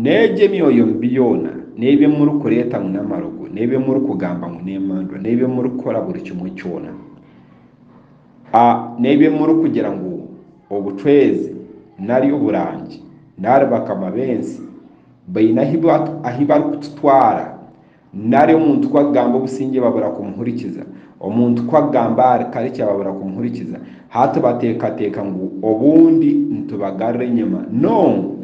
N'egyo emyoyo mibi yoona, n'ebi murikureeta ngu n'amarogo, n'ebi murikugamba ngu n'emandwa, n'ebi murikukora buri kimwe kyona, n'ebi murikugira ngu obucwezi nari oburangi nari bakama b'ensi baine ahu barikututwara, Nari omuntu ku akugamba obusingye babura kumuhurikiza, omuntu ku akugamba ahari karikya babura kumuhurikiza, hati bateekateeka ngu obundi nitubagarura enyima. Noo!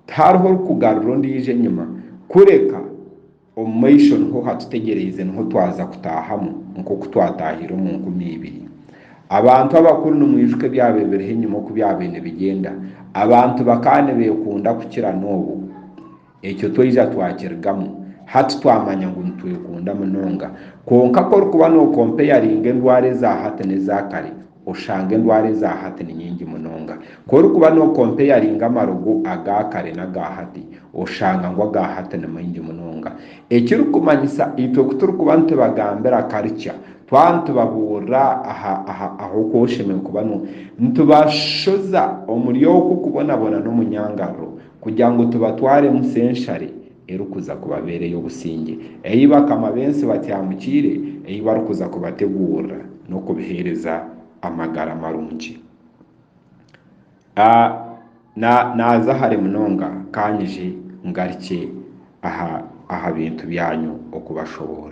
Tihariho orikugarura ondiijo enyima, kureka omu maisho niho hatutegyereize, niho twaza kutaahamu nk'oku twataahiire omu nkumi ibiri. Abantu abakuru nimwijuka ebyaba ebiriho enyima oku byabaire nibigyenda? Abantu bakaba nibeekunda kukira n'obu. Ekyo twaija twakirigamu. Hati twamanya ngu nitwekunda munonga. Kwonka ku orikuba nookompayaringa endwara eza hati n'eza kare, oshanga endwara eza hati ni nyingi munonga. Ku orikuba nookompayaringa amarogo aga kare n'aga hati, oshanga ngu aga hati ni maingi munonga. Ekirikumanyisa, itwe ku turikuba nitubagambira karikya, twaba nitubabuurira aha, aha, aha oku oshemereire kuba no. Nitubashoza omuri okwo kubonabona n'omunyangariro. Kugira ngu tubatwaremu senshari erikuza kubabeera ey'obusingye, ei bakama b'ensi batyamukiire ei barikuza kubateguurira n'okubiheereza amagara marungi. A Na, naaza hare munonga, ka nyije ngarikye aha, aha bintu byanyu okubashoboorora.